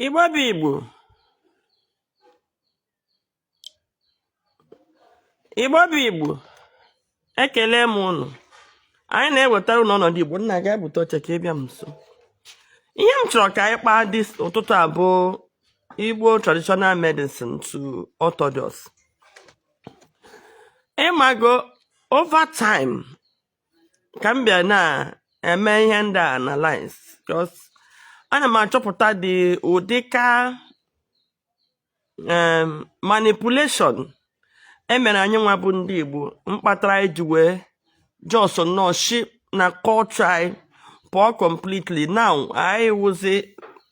Igbo bụ Igbo Igbo bụ Igbo ekele m ụnụ anyị na-ewetara ụnụ ọnọdụ Igbo nna ga ebute oche ka ịbịa m nso ihe m chọrọ ka anyị kpaa this ụtụtụ a bụ Igbo traditional medicine to Orthodox ịmago over time ka m bịa na-eme ihe ndị a analyze cos ana m achọpụta dị ụdị ka em, manipulation emere anyị nwa bụ ndị Igbo mkpatara anyị ji wee just nnọọ shi na culture anyị pụọ completely now anyị wụzi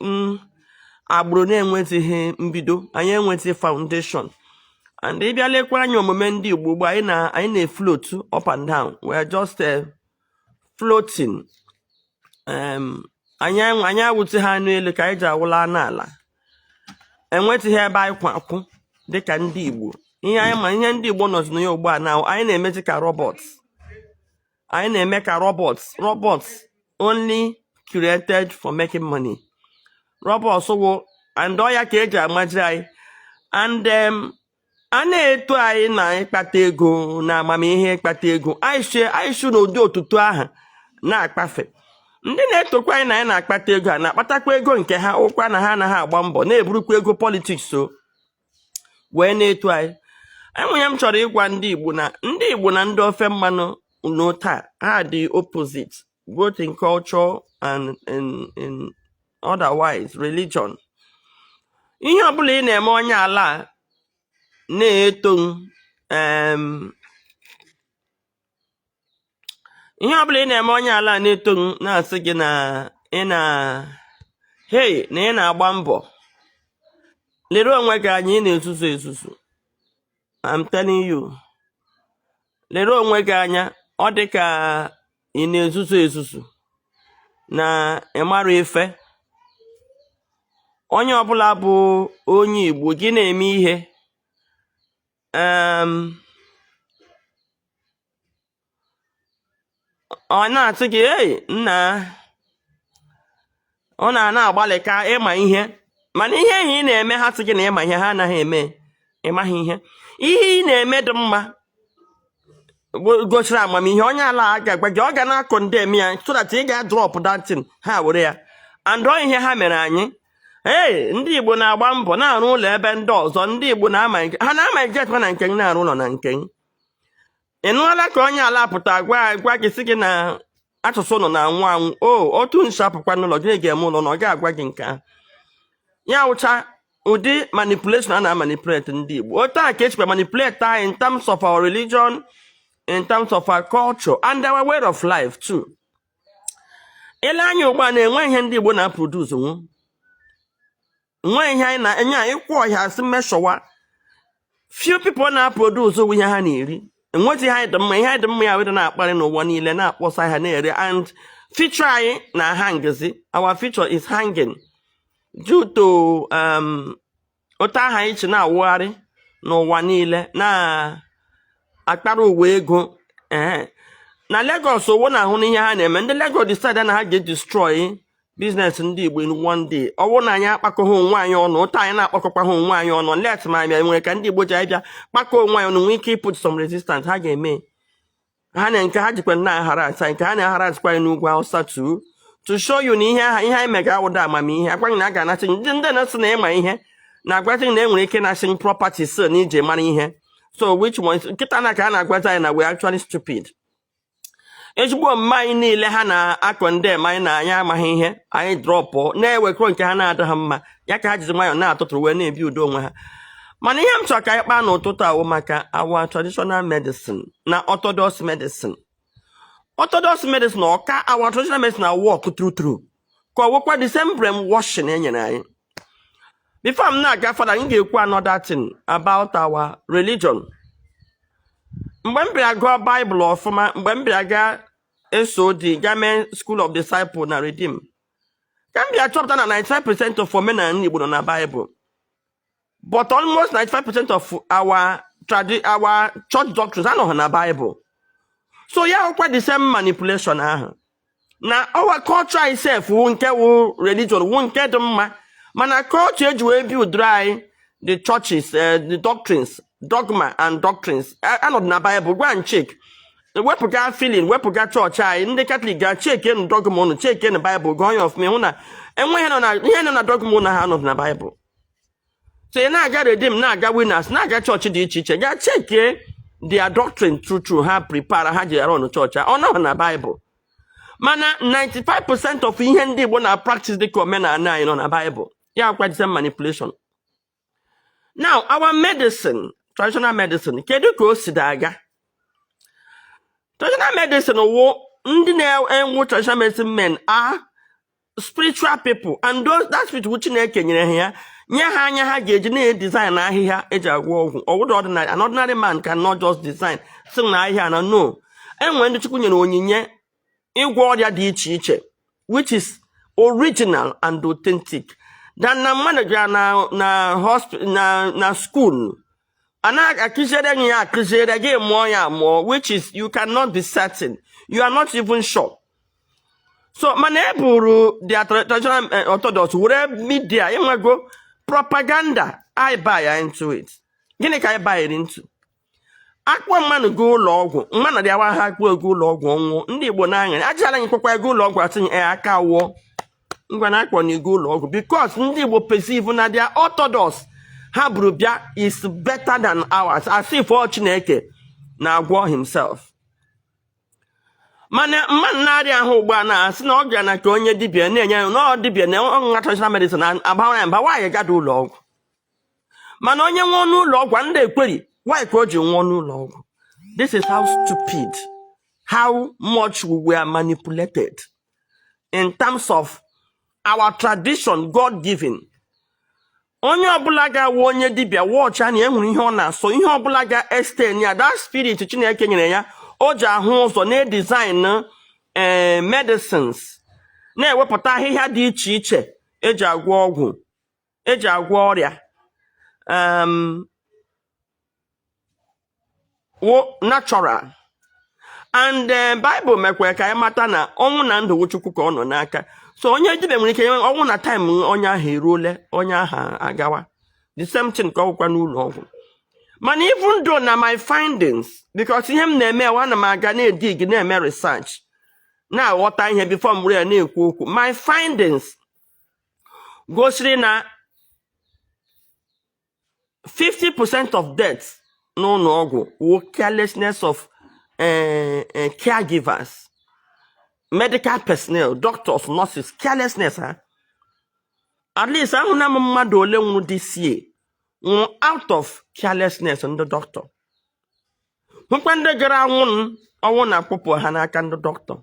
mm, agbụrụ na-enwezighị mbido anyị enwezighị foundation and ị bịa lekwa anya omume ndị Igbo ugbu a anyị na anyị na-efloat up and down we are just uh, floating um, anyị anyị awụtịghị anụ elu ka anyị ji awụla anụ ala enwetịghị ebe anyị kwụ akwụ dịka ndị Igbo ihe anyị ma ihe ndị Igbo nọzi na ya ugbu a na anyị na-emezi ka robots anyị na-eme ka robots robots only created for making money robots wụ and ọ ya ka eji amaji anyị and um, a na-eto anyị na ịkpata ego na amamihe ịkpata ego anyị si anyị si n'ụdị otuto ahụ na-akpafe ndị na-etokwa anyị na anyị na-akpata ego ha na-akpatakwa ego nke ha ọ kwa na ha anaghị agba mbọ na-eburukwa ego politics so wee na-eto anyị enwere ihe m chọrọ ịgwa ndị Igbo na ndị Igbo na ndị ofe mmanụ n'otu a ha dị opposite both in culture and in, in otherwise religion ihe ọbụla ị na-eme onye ala na-eto em ihe ọ bụla ị na-eme onye ala na-eto na-asị gị na ị na hei na ị na-agba mbọ lere onwe gị anya ị na-ezuzu ezuzu I'm telling you lere onwe gị anya ọ dị ka ị na-ezuzu ezuzu na ịmara ife onye ọbụla bụ onye Igbo gị na-eme ihe um ọ na-asị gị ei nna ọ na-ana agbalịka ịma ihe mana ihe ahụ ị na-eme ha sị gị na ịma ihe ha anaghị eme ịmaghị ihe ihe ị na-eme dị mma gosiri amamihe onye ala agaghị agwa gị ọ ga na-econdemn ya so that ị ga-adrop that thing ha were ya and ọ ihe ha mere anyị ee ndị igbo na-agba mbọ na-arụ ụlọ ebe ndị ọzọ ndị igbo na-ama ha na-ama ejetwa na nke na-arụ ụlọ na nke ị nụọla ka onye ala pụta gwa gwa gị sị gị na asụsụ nọ na-anwụ anwụ o otu nso apụkwa n'ụlọ gịnị ga-eme ụlọ na ọ ga-agwa gị nke ahụ ya wụcha ụdị manipulation a na-amanipulate ndị Igbo otu a ka echikwa manipulate anyị in terms of our religion in terms of our culture and our way of life too i lee anya ugbu a na-enwe ihe ndị Igbo na-aproduce nwu nwa ihe anyị na-enye anyị ịkwụ ọhịa si mmeshọwa few people na-aproduce ụgwọ ihe ha na-eri enweghị ihe anyị dị mma ihe anyị dị mma ya weda na-akparị n'ụwa niile na-akpọsa ha na-ere and future anyị na-ahangzi our future is hanging due to um, otu ahụ anyị chi na-awụgharị n'ụwa niile na-akpara uwe ego ee na Lagos ọ wụ na-ahụ n'ihe ha na-eme ndị Lagos decide na ha ga-edestroy business ndị Igbo in one day ọ wụ na anyị akpakọghị onwe anyị ọnụ ụta anyị na-akpakọkwa ha onwe anyị ọnụ let ma anyị nwere ka ndị Igbo ji anyị bịa kpakọọ onwe anyị ọnụ nwee ike iput some resistance ha ga-eme ha na nke ha jikwa nna ahara asa nke ha na-ahara azikwa anyị n'ugwu Hausa too to show you na ihe ahụ ihe anyị mega awụda amamihe a gwa gị na a ga-anasị ndị ndị na-asị na ị ma ihe na-agwazi na e nwere ike ịnasị property so na ije mara ihe so which one kịta na ka a na-agwazi anyị na we actually stupid ezigbo omume anyị niile ha na-akọ ndị ma anyị na anyị amaghị ihe anyị dropụọ na-ewekọ nke ha na-adịghị mma ya ka ha jizi nwayọọ na-atụtụrụ wee na-ebi udo onwe ha mana ihe m chọrọ ka anyị kpaa n'ụtụtụ a wụ maka our traditional medicine na orthodox medicine orthodox medicine ọ ka our traditional medicine awork true true ka ọ wụkwa the same brainwashing e nyere anyị before m na-aga further m ga-ekwu another thing about our religion mgbe m bịara gụọ Bible ọfụma mgbe m bịara gaa SOD gaa mee School of Disciple na Redeem ka m bịa chọpụta na 95% of omenala Igbo nọ na Bible but almost 95 percent of our tradi our church doctrines anọghị na Bible so ya wụkwa the same manipulation ahụ na our culture itself wụ nke wụ religion wụ nke dị mma mana culture e ji wee build anyị the churches eh, the doctrines dogma and doctrines A- anọdụ na Bible go and check wepụga feeling wepụga chọọchị anyị ndị katọlik gaa checkenụ dogma unu checkenụ baịbụl gụọ ya ọfụma hụ na enweghị nọ na ihe nọ na dogma unu ha anọdụ na baịbụl so ị na-aga Redeem na-aga Winners na-aga chọọchị dị iche iche gaa checkie their doctrine true true ha prepare ha ji arun chọọchị a. ọ nọghị na baịbụl mana 95% of ihe ndị igbo na-apractice dịka omenala anyị nọ na baịbụl ya wụkwa the same manipulation now our medicine traditional medicine kedu ka o sidị aga traditional medicine wụ ndị na-awụ traditional medicine men a spiritual people and that spirit wụ chineke nyere ha ya nye ha anya ha ga-eji na-edesign ahịhịa eji agwọ ọgwụ ọ wụdụ ordinary an ordinary man cannot just design si na ahịhịa na no enwere ndị chukwu nyere onyinye ịgwọ ọrịa dị iche iche which is original and authentic than na mmadụ gara na na hospital na na school a na-akụziere gị ya akụziere gị amụọ ya amụọ which is you cannot be certain you are not even sure so mana e buru their traditional eh, orthodox were media enwego propaganda i buy into it gịnị ka i buy into a kpọ mmanụ ga ụlọ ọgwụ mmanụ dị awa ha akpọ ego ụlọ ọgwụ ọ nwụọ ndị igbo na-aṅara ajala gị kwakwa ego ụlọ ọgwụ atụnye eh, aka wụọ ngwa na akpọnye gị ụlọ ọgwụ because ndị igbo perceive na their orthodox ha buru bịa is better than ours as if ọ chineke na-agwọ himself mana mmanụ na-arịa ahụ ugbu a na-asị na ọ bịa na nke onye dibia na-enye ya na ọ dibia na ọ ṅụ traditional medicine abawa ya mba why ị gadị ụlọ ọgwụ mana onye nwụọ n'ụlọ ọgwụ anadị ekwuri why ka o ji nwụọ n'ụlọ ọgwụ this is how stupid how much we were manipulated in terms of our tradition God given onye ọbụla ga-awụ onye dibịa watch ya na e nwere ihe ọ na-asọ ihe ọbụla ga-estain ya that spirit Chineke nyere ya o ji ahụ ụzọ na-edesign ee eh, medicines na-ewepụta ahịhịa dị iche iche eji agwọ ọgwụ eji agwọ ọrịa um, wụ natural and eh, Bible mekwara ka anyị mata na ọnwụ na ndụ wụ Chukwu ka ọ nọ n'aka so onye dibịa nwere ike nye ọ wụ na time onye ahụ eruole onye ahụ agawa the same thing ka ọ wụkwa n'ụlọ ọgwụ mana even though na my findings because ihe m na-eme wụ ana m aga na-edig na-eme research na-aghọta ihe before m were ya na-ekwu okwu my findings gosiri na 50 percent of deaths n'ụlọ ọgwụ wụ carelessness of eh, eh, caregivers medical personnel doctors nurses carelessness ha at least ahụna m mmadụ ole nwụrụ this year nwụrụ out of carelessness ndị doctor hụkwa ndị gaara anwụ ọnwụ na-akpụpụ ha n'aka ndị doctor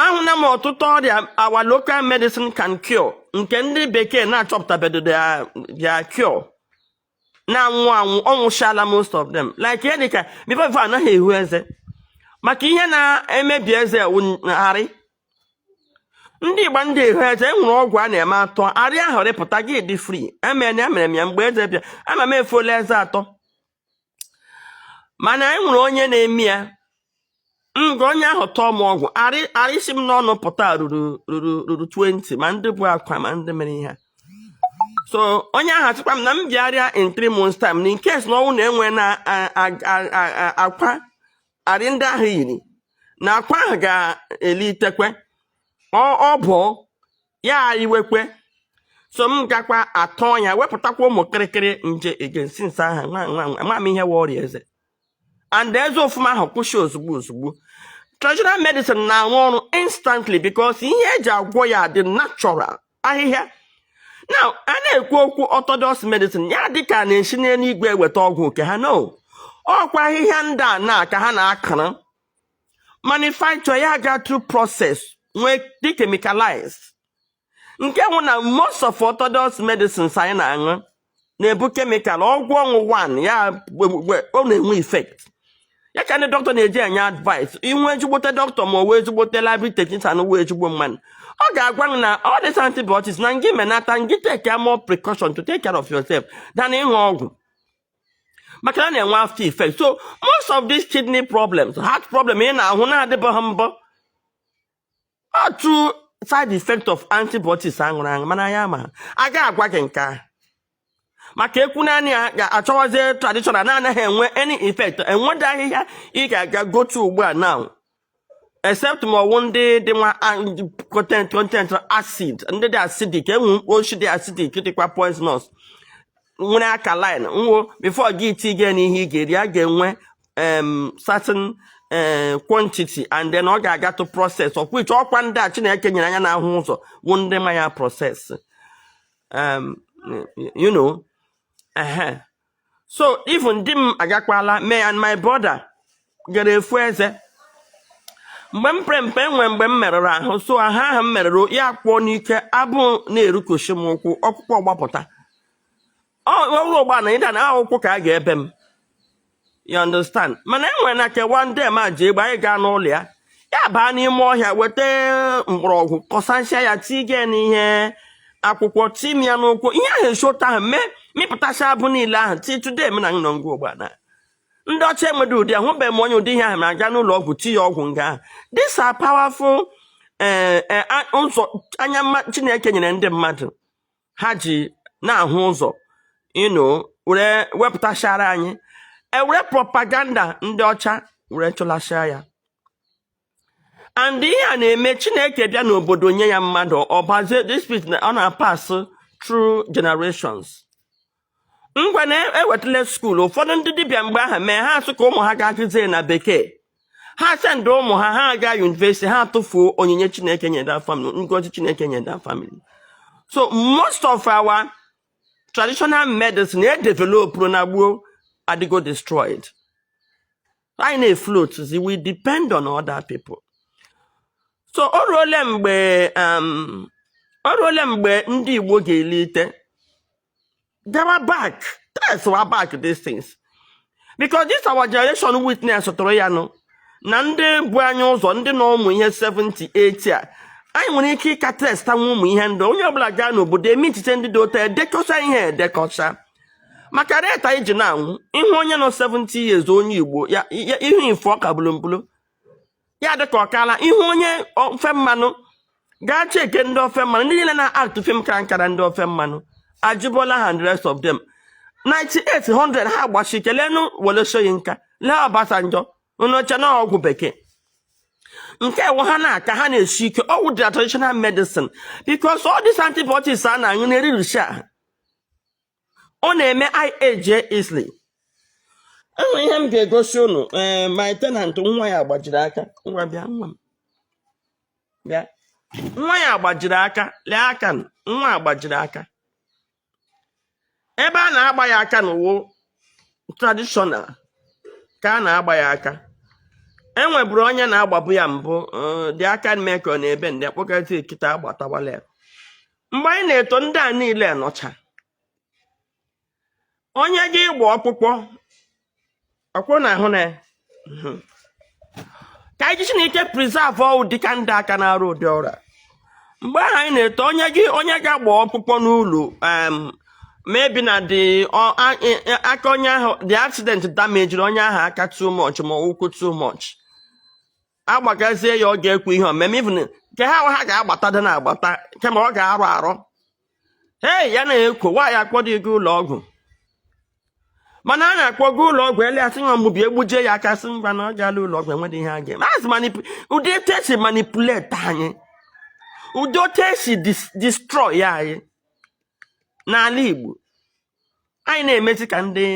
ahụna m ọtụtụ ọrịa our local medicine can cure nke ndị bekee na-achọpụtabedo their cure na-anwụ anwụ ọnwụchala most of them like ihe dịka before before anaghị ehu eze maka ihe na-emebi eze arị ndị igbo anadị ehu eze enwere ọgwụ a na-eme atọ arị ahụ rịpụta gị dị free emere ya mere m ya mgbe eze bịa ana m efola eze atọ mana anyị nwere onye na-eme ya nga onye ahụ tọọ m ọgwụ arị si m n'ọnụ pụta ruru ruru ruru 20 ma ndị bụ akwa ma ndị mere ihe so onye ahụ asịkwa m na m bịarịa in 3 months time na in case na ọnwụ na enwe na akwa arị ndị ahụ yiri na akwa ahụ ga-elitekwe ọ bụ ya iwekwe so m gakwa atọ ya wepụtakwa ụmụ kịrịkịrị nje again since ahụ nwa m ihe wụ ọrịa eze and eze ụfụ m ahụ kwụsị ozugbo ozugbo traditional medicine na-arụ ọrụ instantly because ihe eji agwọ ya dị natural ahịhịa na a na-ekwu okwu orthodox medicine ya dịka na-esi n'eluigwe eweta ọgwụ nke ha no ọkwa ahịhịa ndị a na ka ha na-akara manufacture ya aga through process nwee dị chemicalized nke nwụ na most of orthodox medicines anyị na-aṅụ na-ebu kemikal ọgwụ ọṅụ one ya ọ na-enwe effect ya ka ndị doctor na-eji enye advice i nwee ezigbote doctor ma ọ wụ ezigbote library technician wụ ezigbo mmadụ ọ ga-agwa na all these antibiotics na ngị menata ngị take more precaution to take care of yourself than ịṅụ ọgwụ maka na a na-enwe after effect so most of these kidney problems heart problem ị na-ahụ na-adịbughị mbụ through side effect of antibiotics aṅụrụ aṅụ mana ya ma ha aga agwa gị nke ahụ maka ekwu na anyị ga-achọwazie traditional na-anaghị enwe any effect enweda ahịhịa ị ga-aga gotu ugbu a now except ma ọwụ ndị dị nwa content acid ndị dị acidic enwe oshishi dị acidic dịkwa poisonous nwere alkaline nwo before gị itige n'ihe ị ga-eri a ga-enwe certain eh, quantity and then ọ ga-aga through process of which ọkwa ndị a Chineke nyere anya na-ahụ ụzọ wụ ndị ma ya process you know so even di m agakwala me and my brother gara efu eze mgbe m pere mpe enwe mgbe m merụrụ ahụ so ahụ ahụ m merụrụ ya kpọọ n'ike abụ na-erukoshi m ụkwụ ọkpụkpụ agbapụta ọrụ ugbua na either na ụkwụ ka a ga-ebe m you understand mana e nwere nwoke a ndị ma ji egbe anyị gaa n'ụlọ ya ya baa n'ime ọhịa weta mgbọrọgwụ kọsansia ya tige n'ihe akwụkwọ tii m ya n'ụkwụ ihe ahụ eshota ahụ mee mịpụtacha abụ niile ahụ till today m na nọ nga ugbua na ndị ọcha enwede ụdị ahụbe m onye ụdị ihe ahụ na-aga n'ụlọ ọgwụ ti ya ọgwụ nga ahụ these are powerful eh, eh, ụzọ anya chineke nyere ndị mmadụ ha ji na-ahụ ụzọ ịnụ were wepụtachara anyị ewere propaganda ndị ọcha were chụlachara ya and ihe a na-eme chineke bịa n'obodo nye ya mmadụ ọ bazie this spirit ọ na-apass through generations ngwa na-ewetala skuul ụfọdụ ndị dibịa mgbe ahụ mee ha asị ka ụmụ ha gaa gụzie na bekee ha sendị ụmụ ha ha aga yunivesiti ha tụfuo onyinye chineke nyere that family ngozi chineke nyere that family so most of our traditional medicine e developụrụ na gboo adịgo destroyed anyị na-efloatzi we depend on other people so o ruole mgbe um, o ruole mgbe ndị igbo ga-elite Gawa back. Tracewa back these things. Because this our generation witnesstụrụ ya nụ na ndị bu anyị ụzọ ndị nọ ụmụ ihe 70 80 a anyị nwere ike ịka tracetanwu ụmụ ihe ndị onye ọbụla gaa n'obodo eme echiche ndị dị otu a dekọcha ihe edekọcha maka rate anyị ji na-anwụ ịhụ onye nọ 70 years onye igbo ya ya- ihu ife ọ ka bụrụ mbụrụ ya dị ka ọ kaala ị hụ onye ofe mmanụ gaa cheke ndị ofe mmanụ ndị niile na-aktụ fim kara nka ndị ofe mmanụ Ajibola and the rest of them 98 100 ha gbasi ike leenụ Wole Soyinka lee ọbasanjọ unu che na ọgwụ bekee nke ewu ha na-aka ha na-esi ike ọ wụ the traditional medicine because all these antibiotics a na-aṅụ na-eririsi ahụ ọ na-eme anyị age easily enwe ihe m ga-egosi unu ee eh, my tenant nwa ya gbajiri aka ngwa bịa nwa m bịa nwa ya gbajiri aka lee aka nwa a gbajiri aka ebe a na-agba ya aka na ọ wụ tradishọnal ka a na-agba ya aka enweburu onye na-agbabu ya mbụ eh, the aka mee ka ọ na-ebendị akpọkọta ya kịta agbatawala ya mgbe anyị na-eto ndị a niile nọcha onye gị ịgba ọkpụkpọ ọkwụ na ahụ na hmm. ka anyị jisienụ ike preserve ọ wụ dịka ndị a ka na-arụ ụdị ọrụ a mgbe ahụ anyị na-eto onye gị onye ga-agba ọkpụkpọ n'ụlọ maybe na the aka onye ahụ the accident damejiri onye ahụ aka too much ma ụkwụ too much agbakazie ya ọ ga-ekwe ha omeme even nke ha ha ga-agbata dị na-agbata kama ọ ga-arọ arọ hei ya na-ekwo nwaanyị akpọ dị gị ụlọ ọgwụ mana a na-akpọga ụlọ ọgwụ ele asị nwa mgbubi egbujie ya aka sị ngwa na ọ gaala ụlọ ọgwụ enweghị ihe a ga-emezi manip- ụdị etu esi manipulate anyị ụdị otu esi dis- destroy anyị n'ala Igbo anyị na-emezi ka ndị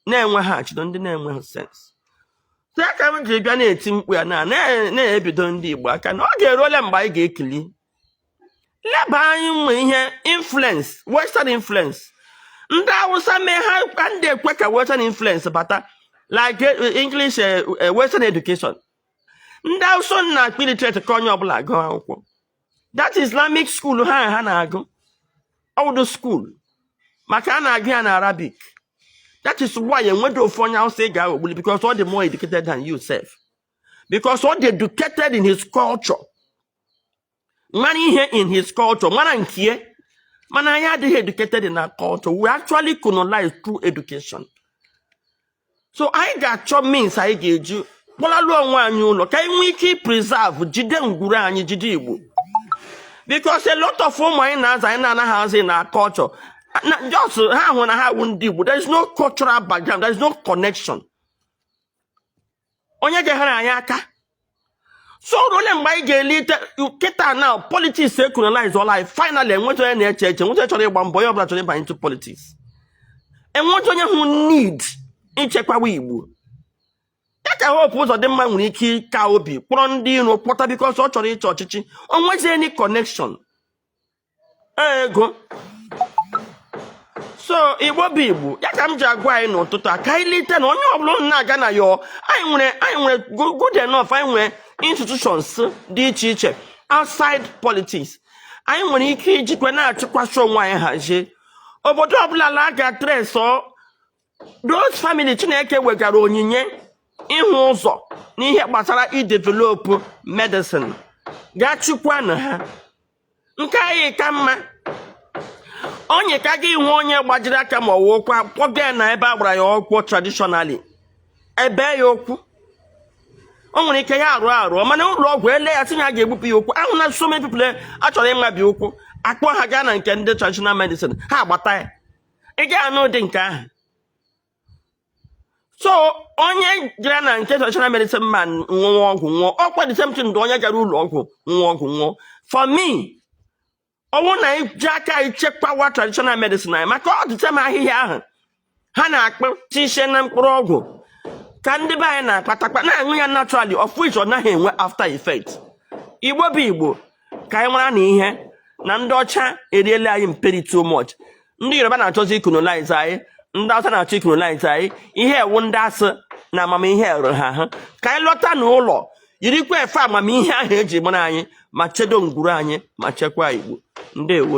na-enweghị achịdo ndị na-enweghị sens so ya ka m ji bịa na-eti mkpu ya na na- na-ebido ndị Igbo aka na ọ ga-eruola mgbe anyị ga-ekili leba anya n'ihe influence western influence ndị awụsa mee ha adị ekwe ka western influence bata like eh, english eh, eh, western education ndị awụsa unu na-akpọ illiterate ka onye ọbụla agụ akwụkwọ that islamic school ha na-agụ ọ wụdụ school maka a na-agụ ya na arabic that is why enwedụ ofu onye awụsa ị ga-aghọgbuli because ọ dị more educated than you sef because ọ dị educated in his culture mara ihe in his culture mara nkie mana anyị adịghị educated in our culture we actually colonized through education so anyị ga-achọ means anyị ga-eji kpọlalụ onwe anyị ụlọ ka anyị nwee ike preserve jide ngwuru anyị jide igbo because a lot of ụmụ anyị na-azụ anyị na-anaghị azụ in our culture just ha hụ na ha wụ ndị igbo there is no cultural background there is no connection onye ga-enyere anyị aka so o ru ole mgbe anyị ga-elite kịta na politics ecolonizeọla anyị finally enwezi onye na-eche eche enwezi onye chọrọ ịgba mbọ onye ọbụla chọrọ ịbanye into politics enwezi onye hụ need ichekwawa igbo ya ka hope ụzọdịmma nwere ike ịka obi kpọrọ ndị iro kpọta because ọ chọrọ ịchị ọchịchị o nwezi any connection ego so igbo bụ igbo ya ka m ji agwa anyị n'ụtụtụ a ka anyị lite na onye ọbụla unu na-aga na ya anyị nwere good enough anyị nwere institutions dị iche iche outside politics anyị nwere ike ijikwa na-achịkwasị onwe anyị hazie obodo ọbụla la ga trace those family chineke wegara onyinye ịhụ ụzọ n'ihe gbasara idevelop medicine gaa chịkwanụ ha nke anyị ka mma onye ka gị hụ onye gbajiri aka ma ọ wụ ụkwụ akpọga ya na ebe a gbara ya ụkwụ traditionally ebee ya ụkwụ o nwere ike ya arụ arụ mana ụlọ ọgwụ ele ya sị ya a ga-egbupụ ya ụkwụ ahụ na so many people achọrọ ịmabi ụkwụ akpọ ha gaa na nke ndị traditional medicine ha agbata ya ị ga-anụ ụdị nke ahụ so onye gara na nke traditional medicine man ṅụọ ọgwụ nwụọ ọkwa the same thing onye gara ụlọ ọgwụ ṅụọ ọgwụ nwụọ for me ọ wụ na iji aka ichekwawa traditional medicine anyị maka ọ the same ahịhịa ahụ ha na-akpụtisie na mkpụrụ ọgwụ ka ndị be anyị na-akpatakpa na-aṅụ ya naturally of which ọ naghị enwe after effect igbo bụ igbo ka anyị mara na ihe na ndị ọcha eriela anyị mperi too much ndị yoruba na-achọzi icolonize anyị ndị awụsa na-achọ icolonize anyị ihe ewu ndị a sị na amamihe ruru ha ahụ ka anyị lọta n'ụlọ yirikwa efe amamihe ahụ eji mara anyị ma chedo ngwuru anyị ma chekwa igbo ndewo